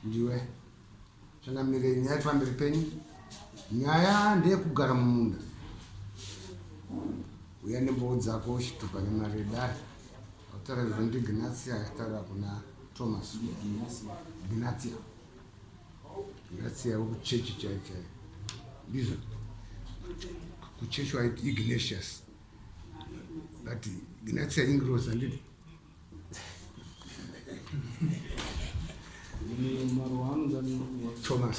ndiwe changamirei nyaya yati pamberi penyu nyaya ndeyekugara mumunda uya nembowo dzako uchitupa nemari yedare autaura zvinondignasia aitaura kuna thomas gnasia ngatsiyavo kuchechi chai chai ndizvo kuchechi waiti ignatius but gnatia ingros andidi thomas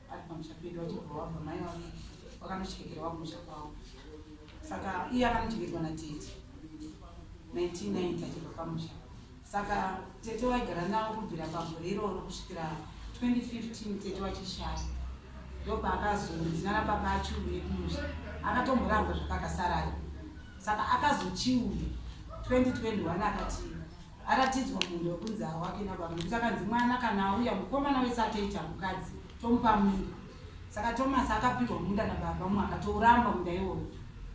ari pamusha pedu vachibva wabva mai vake vakanochengera wakumusha kwavo saka iye akanochengedzwa natete 1990 achibva pamusha saka tete waigara navo kubvira pagore iroro kusvikira 2015 tete wachishaya ndopaakazonzinana papa achiuye kumusha akatomboramba zvakakasarayo saka akazochiuye 2021 akati aratidzwa munhu wekunzi hawake nababa nekuti akanzi mwana kana auya mukomana wese atoita mukadzi tomupa munda saka tomasi akapirwa munda nababa mumwe akatouramba munda iwoyo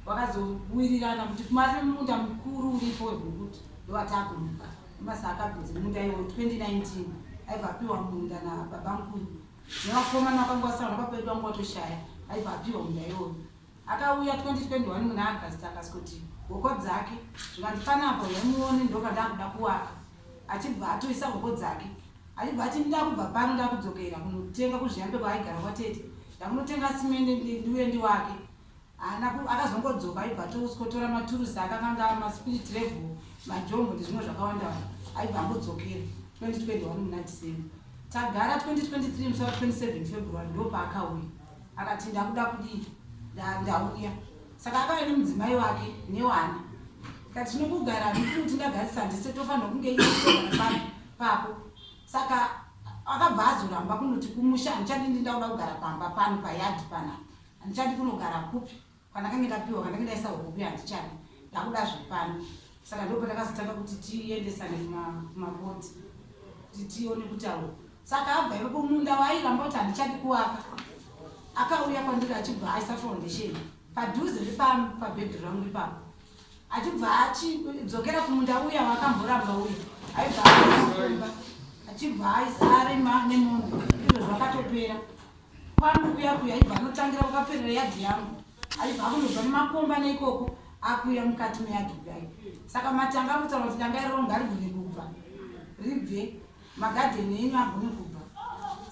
wakazowirirana kuti kumari munda mukuru uripo wekukuti ndovataakumuka tomasi akabvunzi munda iwoyo 2019 aibva apiwa munda nababa mukuru nevakomana vakanga vasaona papaitwa nguva toshaya aibva apiwa munda iwoyo Akauya 2021 muna August akaskoti hoko dzake zvikanzi pane apa huyai muone ndoka ndakuda kuwaka achibva atoisa hoko dzake achibva ati ndakubva pano ndakudzokera kunotenga kuzviyambe kwaaigara kwatete ndakunotenga simende ndiuye ndiwake haana akazongodzoka aibva atoskotora maturusi akakanga maspirit level majombo ndezvimwe zvakawandawanda aibva angodzokera 2021 muna december tagara 2023 musa 27 february ndopaakauya akati ndakuda kudii ndauya saka akauya nemudzimai wake newana kati tinokugara handifuni kuti ndagarisa handise tofanirwa kunge iaa pako saka akabva azoramba kunoti kumusha handichadi ndi ndakuda kugara pamba pano payadi pana handichadi kunogara kupi Pandakange ndapiwa kandange ndaisa hope handichadi ndakuda zvepano saka ndopo ndakazotanga kuti tiendesane kumabodhi kuti tione kuti awo saka abva ipapo munda waairamba kuti handichadi kuwaka akauya kwandiri achibva aisa foundation padhuze nepano pabhedhi rangu ipapo achibva achidzokera kumunda uya waakamboramba uya aibva aomba achibva aisa arima nemunhu izvo zvakatopera Pano kuya kuya ibva anotangira kwakaperera yadhi yangu aibva akunobva nemakomba neikoko akuya mukati meyadhi kudai saka matanga akutaura kuti danga iroro ngarigone kubva ribve magadheni enyu agone kubva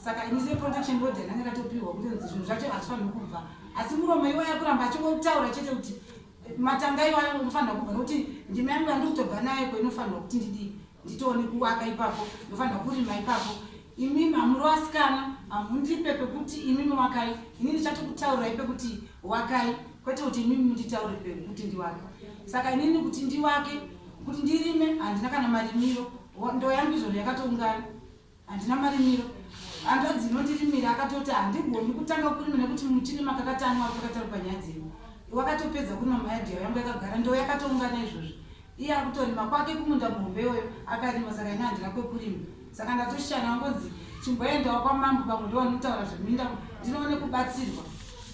saka ini seprotection order yange ndatopiwa kuti nzi zvinhu zvacho hazvifaniri kubva asi muromo iwo yakuramba achingotaura chete kuti matanga iwayo unofanira kubva nokuti ndima yangu yandikutobva nayo ko inofanirwa kuti ndidii nditoone kuwaka ipapo ndofanirwa kurima ipapo imi mamuri wasikana hamundipe pekuti imi miwakai ini ndichatokutaurai pekuti wakai kwete kuti imi munditaure pekuti ndiwake saka inini kuti ndiwake kuti ndirime handina kana marimiro ndoyangu izvozvo yakatoungana Handina marimiro. Hanzvadzi inondirimira akatoti handigoni kutanga kurima nekuti muchini makakatani wari kwakataurwa nyaya dzenyu. Wakatopedza kurima mayadhi yawo yangu yakagara ndo yakatoungana izvozvi. Iye akutorima kwake kumunda muhombe iwoyo akarima saka ini handina kwekurima. Saka ndatoshana wangonzi chimboendawo kwamambo pamwe ndo vanotaura zveminda ndinoone kubatsirwa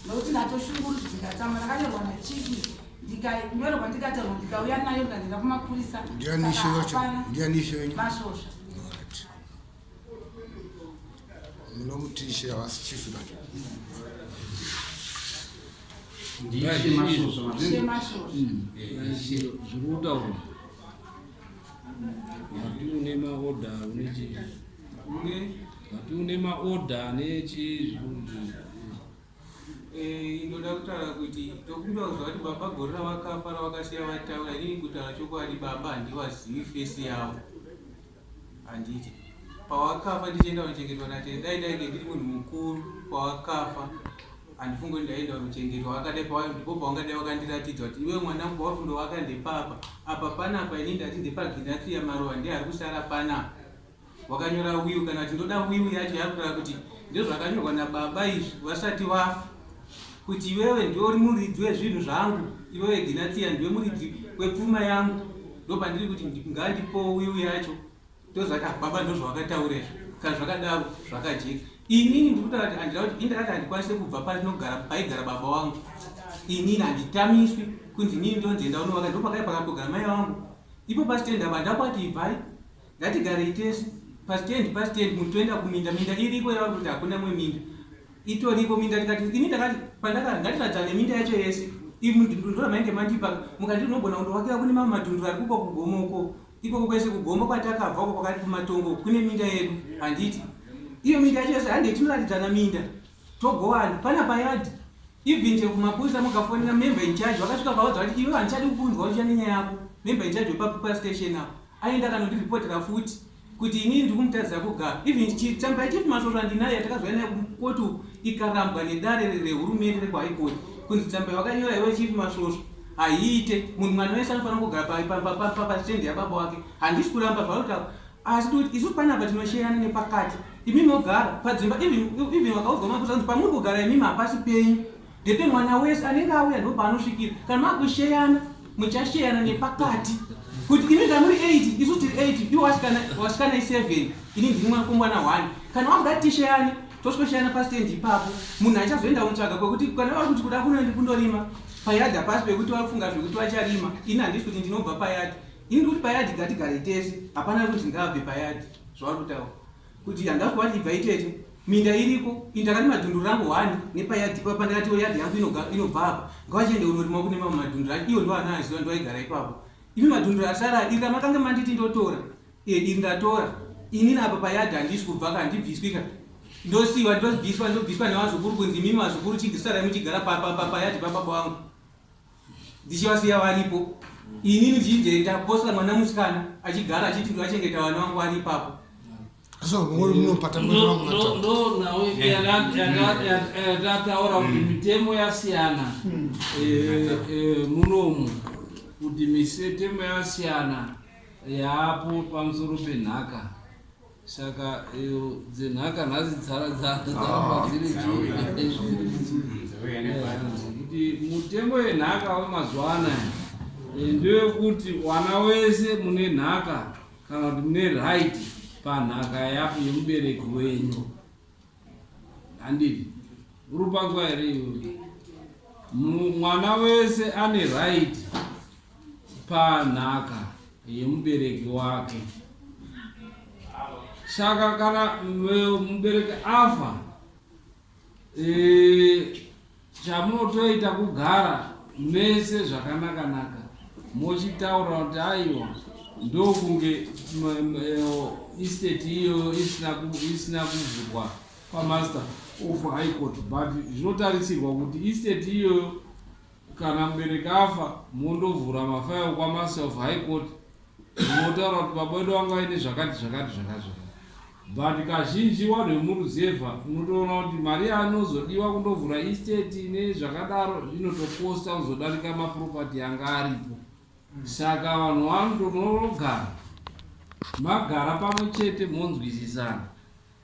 nokuti ndatoshungurudzo ndikatama ndakanyorwa nachiki ndikanyorwa ndikataurwa ndikauya nayo ndikandenda kumapurisa ndianishoamasvosva munomutishe havasi chief ba zvirikutaurwa vati une maoda vati une maoda nechi Eh, ndoda kutaura kuti tokumbira kuziva kuti baba gore ravakafa ravakasiya vataura inini kutaura chokwadi baba handivazivi fesi yavo handiti pawakafa ndichienda kunochengetwa natete dai ndainge ndiri munhu mukuru pawakafa handifungi kuti ndaenda kunochengetwa vakadai pava ndipo pavangadai vakandiratidza kuti iwe mwana wangu pauri kundovaka ndepapa apa panapa ini ndati ndepaginatsiya maruva ndiye ari kusara panapa Wakanyora will kana kuti ndoda will yacho yakureva kuti ndozvakanyorwa nababa izvi vasati vafa kuti iwewe ndiwe uri muridzi wezvinhu zvangu iwewe Ginatiya ndiwe muridzi wepfuma yangu ndopandiri kuti ngandipowo will yacho ndozvati baba ndozvawakataura izvo kana zvakadaro zvakajeka inini ndikutaura kuti andida kuti indakati handikwanise kubva patinogara paigara baba wangu inini handitamiswi kunzi inini ndonzi enda unovaka ndopakaipa kakugara mai vangu ipo pasitenda vandakwati ibvai Ngatigarei tese pastand pastand muti toenda kuminda minda iriko yavari kuti hakuna mwe minda itoriko minda tikati ini ndakati pandakati ngatiradzane minda yacho yese ndora mainge mandipa mukati unogona kundovakira kune mamwe madhunduru ari kuko kugomoko ikoko kwese kugombo kwatakabva uko kwakati kumatongo kune minda yedu handiti iyo minda yacho yese hande tinoratidzana minda togowana pana payadi even chekumapurisa mukafonera member in charge vakasvika vaudza kuti iwe handichadi kukunzwa uchiya nenyaya yako member in charge wepapastation apo Aenda kanondiripotera futi kuti inini ndikumutarisa kuga even chitamba chief masvosva handinaye yatakazvaya naye koti ikarambwa nedare rehurumende rekwaikoti kunzi tamba wakanyora iwe chief masvosva haiite munhu mwana wese anofanira kugara pasitendi yababa wake handisi kuramba zvautaura asi tikuti isu panapa tinosherana nepakati imimi ogara padzimba even wakaudzwa makuza kuti pamuri kugara imimi hapasi penyu Dede mwana wese anenge auya ndopaanosvikira kana makusheyana muchasheyana nepakati kuti ini ndamuri 8 isu tiri 8 iwo wasikana i7 ini ndiri mwanakomana 1 kana wakuda tisheyane toswesheyana pastendi ipapo munhu achazoenda kutsvaga kwekuti kana vari kuti kuda kunoendi kundorima payadha pasi pekuti vari kufunga zvekuti vacharima ini handisi kuti ndinobva payadha ini ndikuti payadhi ngatigare tese hapana kuti ndingabve payadhi zvavari kutaura kuti yanga kuva ndibva itete minda iriko ini ndakati madhundu rangu hwani nepayadhi papa ndakati oh, yadhi yangu inobva apa ngavachiende kunorima kune mamwe madhundu acho iyo ndoana aiziva ndoaigara ipapo imi madhundu asara iri ramakanga manditi ndotora e iri ndatora inini apa payadhi handisi kubva ka ndibviswika ndosiwa ndobviswa ndobviswa nevazukuru kunzi mimi vazukuru chigisa raimuchigara payadhi papapa wangu ndichivasiya varipo ini ndichizoenda posla mwana musikana achigara achiti ndivachengeta vana vangu vari ipapo so muri munopata ndonawo yatataura kuti hmm. mitemo yasiyana hmm. eh, eh, munomu kuti mitemo yasiyana yaapo pamusoro penhaka Saka iyo dzenhaka nhasi dzara dzange dzaramba ah, dziri kuti mutemo yenhaka wemazuva anaya eh, ndewekuti wana wese mune nhaka kana kuti mune right panhaka yapo yemubereki wenyu Handiti urupanzwa here iwe? Mwana wese ane right panhaka yemubereki wake. Saka kana mubereki afa, e, Chamunotoita kugara mese zvakanaka naka mochitaura kuti aiwa ndokunge estate iyoyo isina kuvhurwa pamaster of high court but zvinotarisirwa kuti estate iyoyo kana mubereki afa mondovhura mafayo kwamaster of high court Ndinotaura kuti baba wedu vanga vaine zvakati zvakati zvakati zvakati but kazhinji wanhu vemuruzevha unotoona kuti mari yaanozodiwa kundovhura estate nezvakadaro inotokosta kuzodarika maproperty yanga aripo saka vanhu vanotonogara magara pamwe chete monzwisisana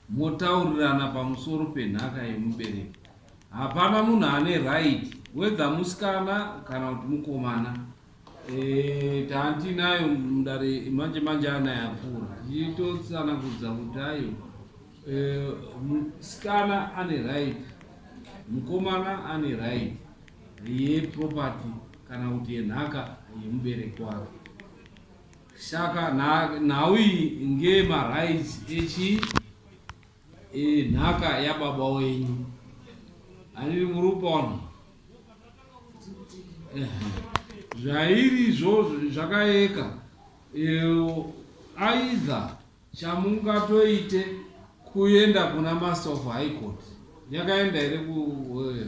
motaurirana pamusoro penhaka yemubereko hapana munhu ane right wedha musikana kana kuti mukomana Eh, taantinayo mudare manje manje anayapfuura tichitotsanangudza kuti ayo eh, musikana ane right mukomana ane right yeproperty kana kuti yenhaka yemubereki wake saka nhau iyi ngeyemarights echi Iyi nhaka yababa wenyu. Handiri murupona. Zvairi zvo zvakaeka. Iyo aidha chamungatoite kuenda kuna master of high court. Yakaenda here ku eh,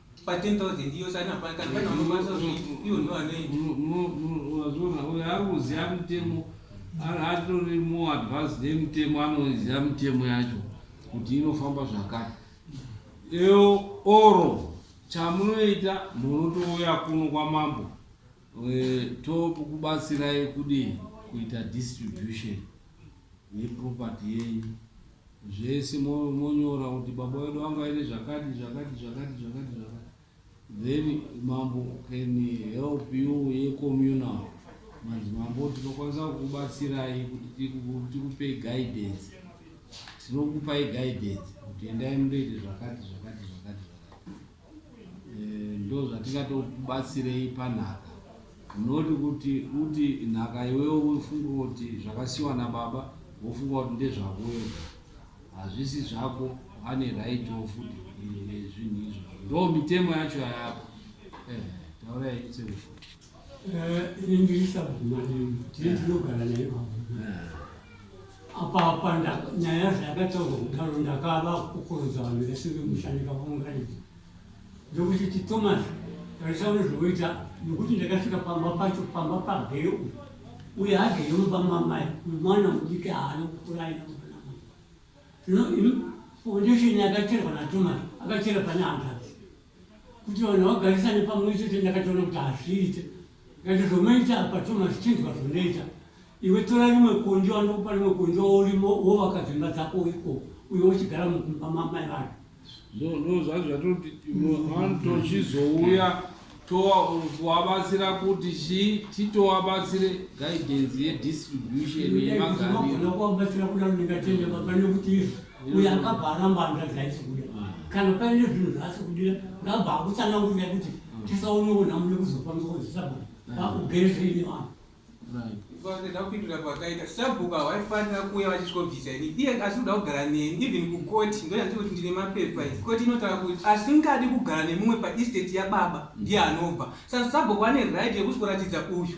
pa 10000 iyo sana pa kana kana unobasa zvitu iyo ndo anoita no no no wazona uyo ari kuziva mutemo ari atori more advanced nemutemo anoziva mutemo yacho kuti inofamba zvakati eo oro chamunoita munotouya kuno kwamambo Tokubatsirai kudii kuita distribution yeproperty yenyu zvese monyora kuti baba wedu vanga vaine zvakati zvakati zvakati zvakati zvakati then mambo can help you yecommunal manzi mambo tinokwanisa kukubatsirai kuti tikupei guidance tinokupai guidance kuti endai mundoite zvakati zvakati zvakati zvakati Eh, ndozvatingatokubatsirei panhaka unoti kuti uti nhaka iwewo ufunge kuti zvakasiwa nababa wofunga kuti ndezvako wega hazvisi zvako ane right wo futi nezvinhu izvozvo ndo mitemo yacho yayako eh, taurai serufu ini ndiri sabhuma nemi tiri tinogara naye pabhuma apapa nyaya zvayakataurwa kudaro ndakava kukuruza vanhu vese vemushandika vaunganidza ndokuti ti thomas tarisa unezvovoita nokuti ndakasvika pamba pacho pamba pagere uyu uye hagere mumba mamai mwana mudiki haana kukura aina muvanamai zvino foundation yakacherwa nathomas akachera pane handazi kuti vanhu vagarisane pamwe chete ndakatoona kuti hazviite ngati zvonoita apa thomas chinzwa zvonoita iwe tora rimwe kondi wanokupa rimwe kondi waurimo wovaka dzimba dzako ikoko uye wochigara mukumba mamai vanhu ndozvazvo zvatoti tochizouya kuvabatsira kuti chii titovabatsire guidance yedistribution yemagariro uyo akabva aramba hanzvadzi aisikuda kana paine zvinhu zvaasikudira ngabva akutsanangurira kuti tisaoneona mune kuzofambisa kuzisabhuku vakugere zviine vanhu vanoda kupindura kwakaita sabhuku hawaifanira kuuya vachitobvisa ini iye asi kuda kugara neni even kukoti ndoyati kuti ndine mapepa i koti inotaura kuti asingadi kugara nemumwe paestate yababa ndiye anobva saka sabhuku ane right yekutoratidza uyu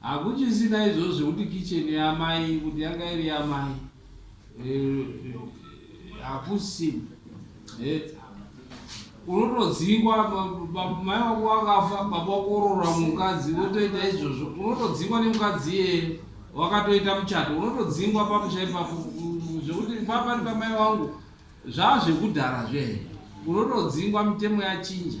Hakuchisina izvozvo zvekuti kitchen yamai kuti yanga iri yamai hakusi unotodzingwa mai wako wakafa baba wako oroora mukadzi wotoita izvozvo unotodzingwa nemukadzi iyeye wakatoita muchato unotodzingwa pamusha ipapo zvekuti papa ndi pamai wangu zvaa zvekudhara zvehe unotodzingwa mitemo yachinja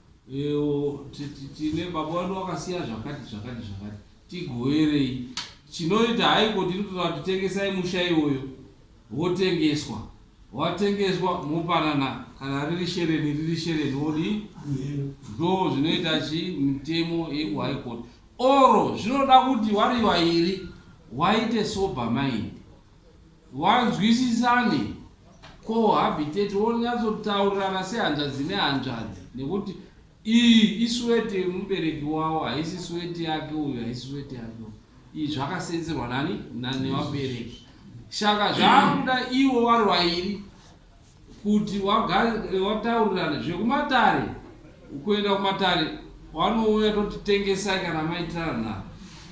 Ewo tine baba vandu vakasiya zvakati zvakati zvakati tigoverei chinoita haiko tiri kutoda kuti tengesai musha iwoyo wotengeswa watengeswa mopanana kana riri shereni riri shereni wodi ndo zvinoita chi mitemo yekuhigh court oro zvinoda kuti wari vairi waite sober mind Wanzwisisane co habitate wonyatsotaurirana sehanzvadzi nehanzvadzi nekuti iyi iswete yemubereki wawo haisi swete yake uyu haisi swete yake uyu iyi zvakasenzerwa nani nevabereki shaka zvaakuda iwo vari vairi kuti wataurirana zvekumatare kuenda kumatare wanouya toti tengesai kana maitirana na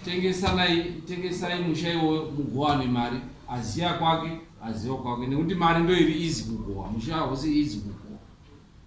tengesanai tengesai musha iwoyo mugowane mari aziya kwake aziwa kwake nekuti mari ndoiri izi kugowa musha hausi izi kugowa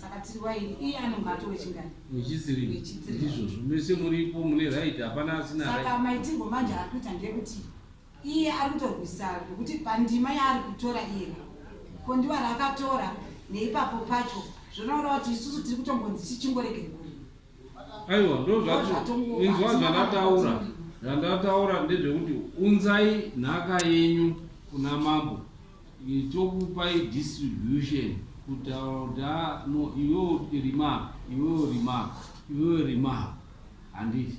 saka tiri waini iye anonge atove chingani wechitsirindizvozvo mese muripo mune right hapana asina saka maitirwo manje ari kuita ndeyekuti iye ari kutorwisa zvekuti pandima yaari kutora iye ko ndiwa raakatora neipapo pacho zvonoona kuti isusu tiri kutombonzi tichimboregerwa aiwa ndozvatinzwa zvandataura zvandataura ndezvekuti unzai nhaka yenyu kuna mambo Tokupai distribution kutaura kuti haa no iwewo rima iwewo rima iwewo rima handiti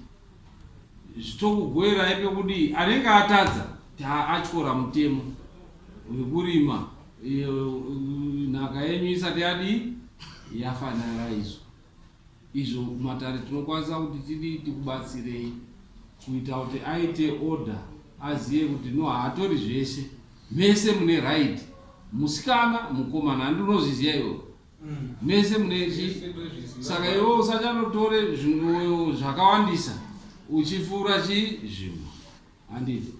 zvitokugoerai pekudii anenge atadza taatyora mutemo wekurima nhaka yenyu isati yadii yafanira izvo izvo kumatare tinokwanisa kuti tidii tikubatsirei kuita kuti aite order azive kuti no haatori zvese mese mune right musikana mukomana handi unozviziva iwo mm. mese mune chi saka iwo usachanotore zvinhu zvakawandisa uchifura chi zvinhu handiti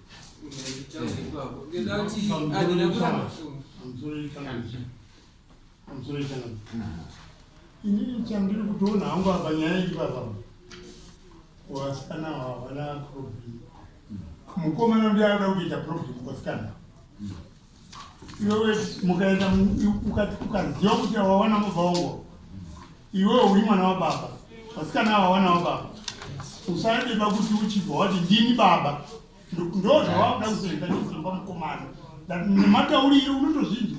Inini chandiri kutoona hangu apa nyaya iyi baba kuvasikana ava havana problem mukomana undi anoda kuita problem kuvasikana iwewe mukaenda ukaziva kuti awawana mubva wangu iwewe uri mwana wababa vasikana ava wana wababa usadeba kuti uchibva wati ndini baba ndo zvavakuda kuzoenda nesimba mukomana nematauriri unotozvinzwa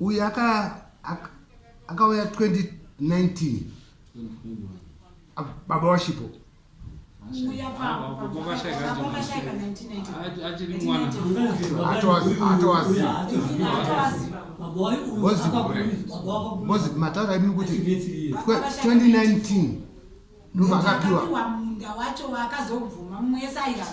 uyu akauya 2019 baba washipo bozi mataura imini kuti 2019 ndovakapiwa munda wacho wakazobvuma mumwe yese airamba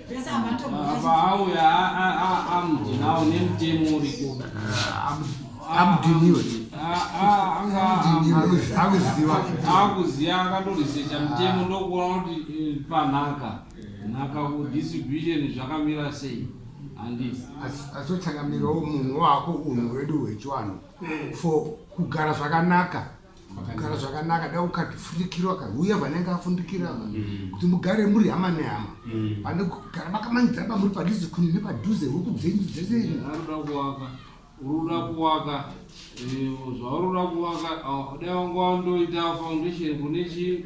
paauya amudhinawo nemutemo uriko amudhiniwe akuziva akatoresecha mutemo ndokuona kuti eh, panhaka nhaka kudistribution zvakamira sei asotangamirawo munhu wako unhu wedu hwechiwanhu eh. for kugara zvakanaka kugara zvakanaka da ukafundikirwa ka uye vanenge afundikira va mm. kuti mugare muri hama nehama mm. pane kugara makamanidza ba muri padhuze kuni nepadhuze huku dzenyu dzese anoda kuvaka uruda kuvaka eh, zvaurura kuvaka dai wanga wandoita foundation kune chii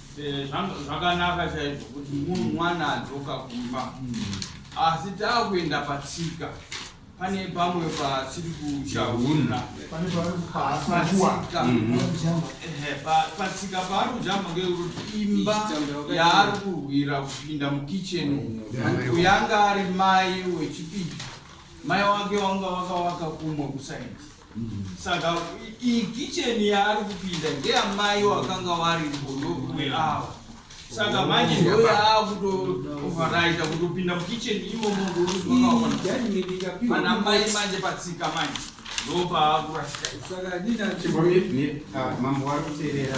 Eh, zvakanaka chaizvo kuti mwana adzoka kumba asi taakuenda patsika pane pamwe pasiri kuchauna patsika paari kujamba ngekuti imba yaari kurwira kupinda mukitchen kuyanga ari mai wechipiri mai wake wanga wakawaka kumwe kusaidi Saka iyi kitchen yaari kupinda ndeyamai wakanga wari mbodokuwe awa. Saka manje ndoyo akutovaraita kutopinda mukitchen imomo ngoana mai manje patsika manje ndopaakurasika. Saka dina mambo wari kuterera.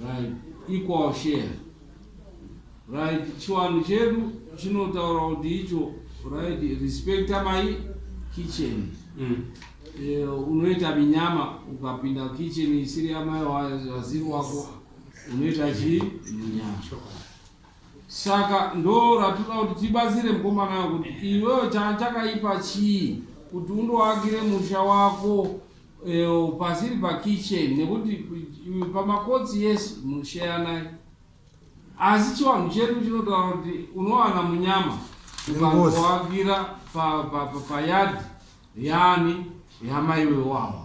Right. Equal share. Right. Chiwanhu chedu chinotaura kuti icho right respect my kitchen. Mm. Eh, unoita minyama ukapinda kitchen isiri yamai waziri wako unoita chii minyama. Saka ndoratoda kuti tibatsire mukomana uyo kuti iwewe cha- chakaipa chii kuti undoakire musha wako eh, pasiri pakitchen nekuti eh, pamakotsi yes musheyanai asi chivanhu chedu chinotaura kuti unowana munyama Nengozi. ukangoakira payadhi yani yamaiwe wawa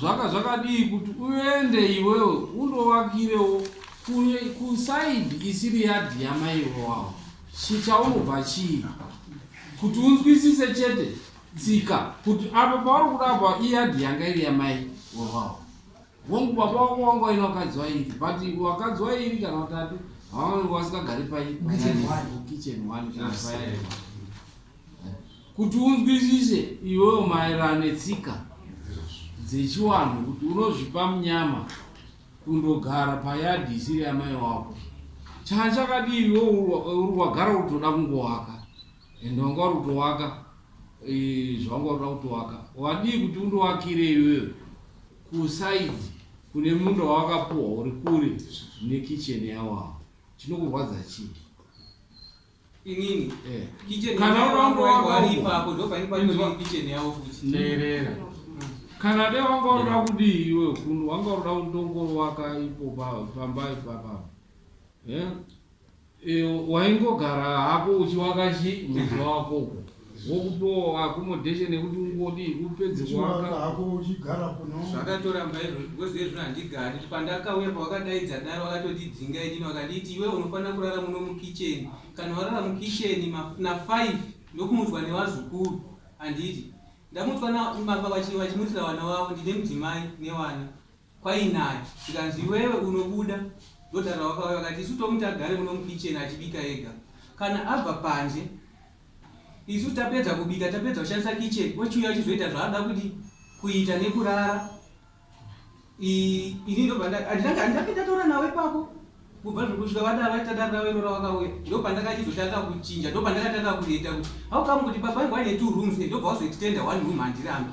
Zvanga zvakadii kuti uende iwewe undovakirewo kusaidi isiri yadhi yamaivo wavo chichaunobva chii kuti unzwisise chete tsika kuti apo pauri kuda apa iyadhi yanga iri yamai wevavo vongu baba wako wanga waina vakadzi vairi but vakadzi vairi kana vatatu havange vasikagari paikitchen one Kuti unzwisise iwewo maererano netsika dzechiwanhu kuti unozvipa munyama kundogara payadhi isiri yamai wako chaa chakadii iwewo uri wagara uri kutoda kungowaka ende wanga uri kutowaka eh, zvawanga uri kuda kutowaka wadii kuti undowakire iwewe kusaidi kune munda wawakapuwa uri kure nekicheni yawawo chinokurwadza chii inini eh. kitchen kana wangu wangu ari ipapo ndo paini pacho ndo kitchen yawo kuti teerera kana de wanga unoda kudii iwe kunu wanga unoda kundongoro waka ipo pamba ipapa eh? eh waingogara hako uchiwaka chi muzi wako Vokupiwawo accommodation yekuti ungodi upedze Chiwaka kuwaka. hako uchigara kuno. Zvakatoramba izvozvo because iye zvino handigari. Pandakauya pavakadaidza dare vakatondidzinga inini vakanditi iwewe unofanira kurara muno mukitchen. Kana warara mukitchen ma na five ndokumutswa nevazukuru. Handiti ndamutswa na baba vachi vachimutsira vana vavo ndine mudzimai nevana. kwainaya zvikanzi iwewe unobuda ndotaura wakauya vakati isu tomuti agare muno mukitchen achibika ega kana abva panze isu tapedza kubika tapedza kushandisa kitchen ochiuya achizoita zvaanoda kudi kuita nekurara ini ndobva anditanga anditanga ndataura nawe ipapo kubva zvekusvika vadaro vaitadarira vairora vakauya ndopandakachizotanga kuchinja ndopandakatanga kuita kuti haukamu kuti baba ingu aine two rooms ndobva wazoextenda one room handirambi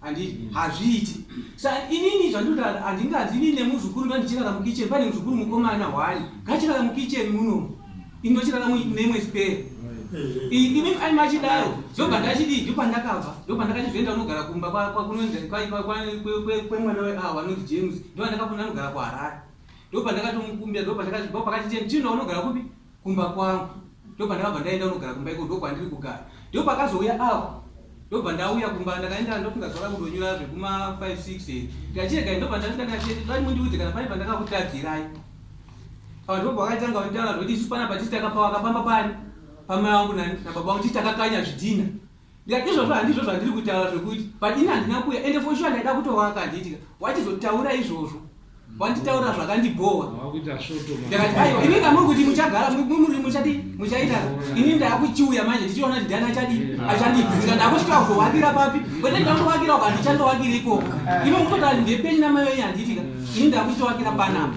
Handiti mm. hazviiti sa inini zvandinotaura handinganzi inini nemuzukuru ndandichirara mukitchen pane muzukuru mukomana hwani ngachirara mukitchen muno ini ndochirara nemwe spare ini ai machidaro ndobva ndachidii ndo pandakabva ndo pandakachizoenda unogara kumba kwemwana weawa anonzi james ndo andakafona anogara kuharare ndo pandakatomukumbira ndo pakachiteni chino unogara kupi kumba kwangu ndopandakabva ndaenda kunogara kumba iko ndokwandiri kugara ndipo pakazouya avo ndobva ndauya kumba ndakaenda ndofunga zvaka kundonyura zvekuma 56 ndikachirega ndobva ndasvika ndikachiti ndati mundiudze kana pane pandakakutadzirai apa ndipo pakaitanga kunditaura zvekuti isu pana patiti takapawaka pamba pani pamai wangu nababa wangu titi takakanya zvidhina Ndikati izvozvo handizvo zvandiri kutaura zvekuti padini handina kuya ende for sure ndaida kutovaka handiitika wachizotaura izvozvo wanditaura zvakandibhowa ndakati aiwa ini kamuri kuti muchagara muri muchadii muchaita ini ndaakuchiuya manje ndichiona kuti ndani achadii achandidzinga ndaakusvika kuzovakira papi kwete ndandovakira uka handichandovakira ikoko ino mukutoti ndepeni namai wenyu handiitika ini ndaakuchitowakira panapa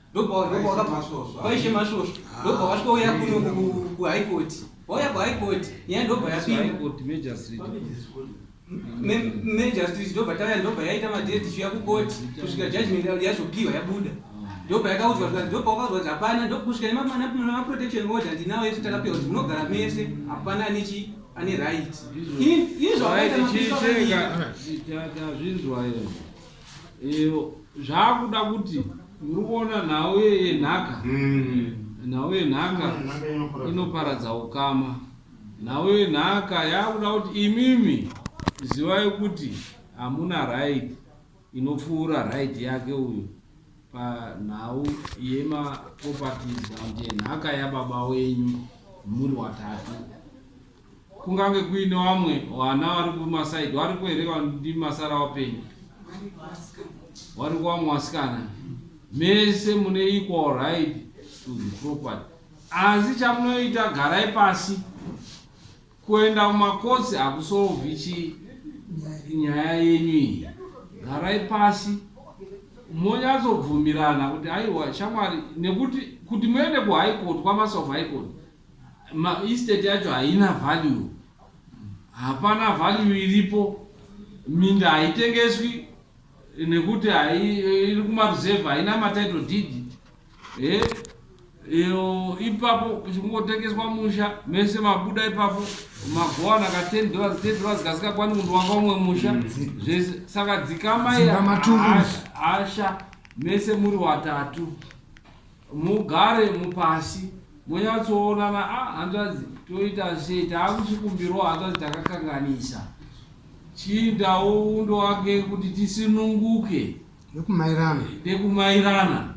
ndopaishe masvosvo ndobva vasvika uya kuno kuhigh court vauya kuhigh court nyaya ndobva yapindamajustrit ndobva tauya ndobva yaita madeti chiuya kukoti kusvika judgment yazopiwa yabuda ndopa yakaudzwa kuti ndopa wakaudzwa kuti hapana ndokusvika nemaprotection order ndinawo ese takapiwa kuti munogara mese hapana anechi ane right ini zvaaita mapisa Eyo zvakuda kuti muri kuona nhau yenhaka mm. nhau yenhaka inoparadza ukama nhau yenhaka yakuda kuti imimi zivai kuti hamuna right inopfuura right yake uyu panhau yemaproperties and yenhaka yababa wenyu muri watatu Kungange kuine wamwe wana wari kumasaidi waripo here wandi masara wapenyu wari kuwamwe wasikana mese mune equal right to the property asi chamunoita garai pasi kuenda kumakotsi hakusolvi chi nyaya yenyu iyi garai pasi monyatsobvumirana kuti aiwa shamwari nekuti kuti muende kuhigh court kwamasof high court Ma estate yacho haina value. Hapana value iripo. Minda haitengeswi nekuti iri kuma reserve haina ma title deed. Eh? Iyo ipapo kuchingotengeswa musha mese mabuda ipapo magowana ka 10 dollars 10 dollars kasingakwani kundovaka umwe musha mm. zvese saka dzikama iya asha mese muri watatu Mugare mupasi monyatsoonana a ah, hanzvadzi toita sei taakuchikumbirawo hanzvadzi takakanganisa chiindawo undo wake kuti tisinunguke nekumairana nekumairana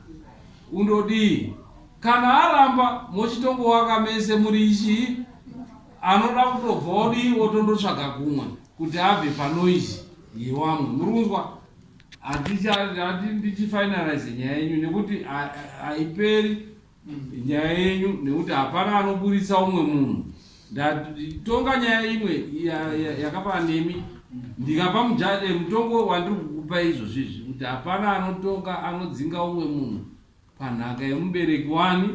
undodii kana aramba mochitongowaka mese muri ichi anoda kutobva odii otondotsvaga kumwe kuti abve panoizi yewamwe muri kunzwa Hatichati ndichifinalize nyaya yenyu nekuti haiperi nyaya yenyu nekuti hapana anoburitsa umwe munhu ndatonga nyaya imwe yakafana nemi ndikapa mujade eh, mutongo wandiri kukupa izvozvi izvi kuti hapana anotonga anodzinga umwe munhu panhaka yemubereki wani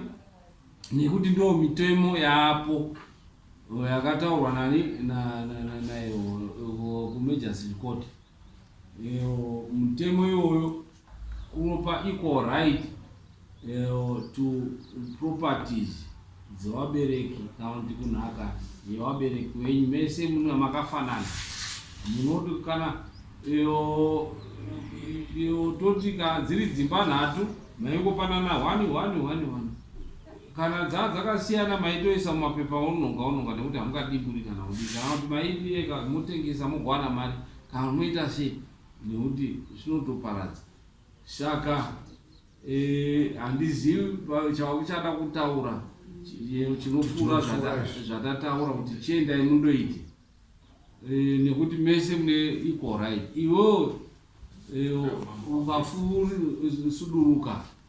nekuti ndo mitemo yaapo yakataurwa nani naiwo kumajustic court Mutemo iwoyo unopa equal right to properties dzevabereki kana kuti kunhaka yevabereki venyu mese mune makafanana munoti kana toti kana dziri dzimba nhatu maingopanana one one one one Kana dzaa dzakasiyana maitoisa mumapepa aunonga unonga nekuti hamungadimburi kana kudii kana kuti maibireka motengesa mogowana mari kana moita sei nekuti zvinotoparadza saka eh, handizivi chava kuchada kutaura chinopfuura zvatataura kuti chiendai mundoite eh, nekuti mese mune equal right iwewo eh, ukafusuduruka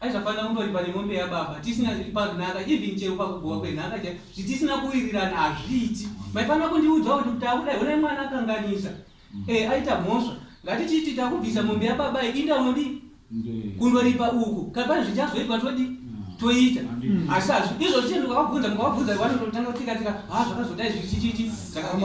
Aizvafanira kundoripa nemombe yababa tisina zviri panhaka even chero pakugowa kwenhaka chai zvitisina kuwirirana hazviiti maifanira kundiudzawo kuti kuti akudai honai mwana akanganisa mm. e aita mhosva ngatichiti takubvisa mombe yababa inda unodi kundoripa uku kapani zvichazoitwa todi mm. toita mm. asi hazvi izvo zvichii ndikavabvunza mukavabvunza vanototanga kutika tika ha ah, zvakazotai zvichichichi zvakadii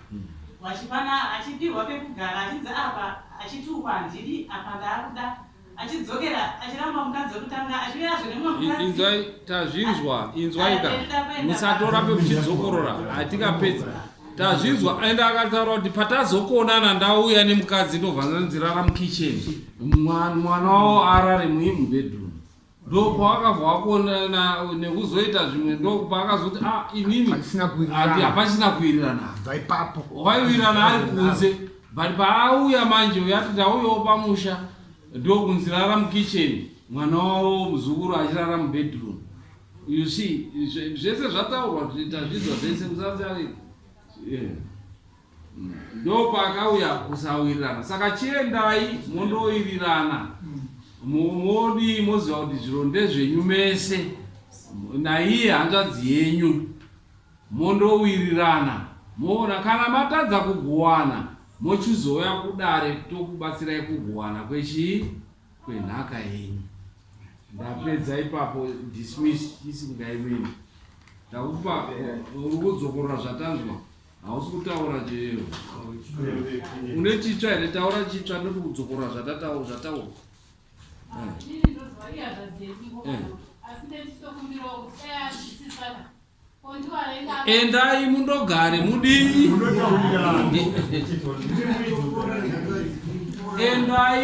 Vachipana achipihwa pekugara achinzi apa achitukwa handidi apa ndaakuda achidzokera achiramba mukadzi wekutanga achiuyazve nemumwe mukadzi inzwai tazvinzwa inzwaika musatora pekuchidzokorora hatikapedzi tazvinzwa ende akataura kuti patazokuonana ndauya nemukadzi ndobva ndanzirara mukitchen mwana wavo arare muimubedroom ndopaakabva akuonana nekuzoita zvimwe ndopaakazoti a ah, inini hapachina kuwirirana bva ipapo waiwirirana ari kunze but paauya manje uyati ndauyawo pamusha ndokunzi rara mukitchen mwana wavo muzukuru achirara mubedroom you see zvese zvataurwa tazvidzwa zvese musaziarei yeah. ndopaakauya kusawirirana saka chiendai mondowirirana modi moziva kuti zviro ndezvenyu mese naiye hanzvadzi yenyu mondowirirana moona kana matadza kugowana mochizouya kudare tokubatsirai kugowana kwechii kwenhaka yenyu ndapedza ipapo dismiss isingaimini ndakupa uri kudzokorora zvatanzwa Hausi kutaura chero. Une chitsva here taura chitsva ndoto kudzokora zvatataura zvataura. Endai mundogare mudii? Endai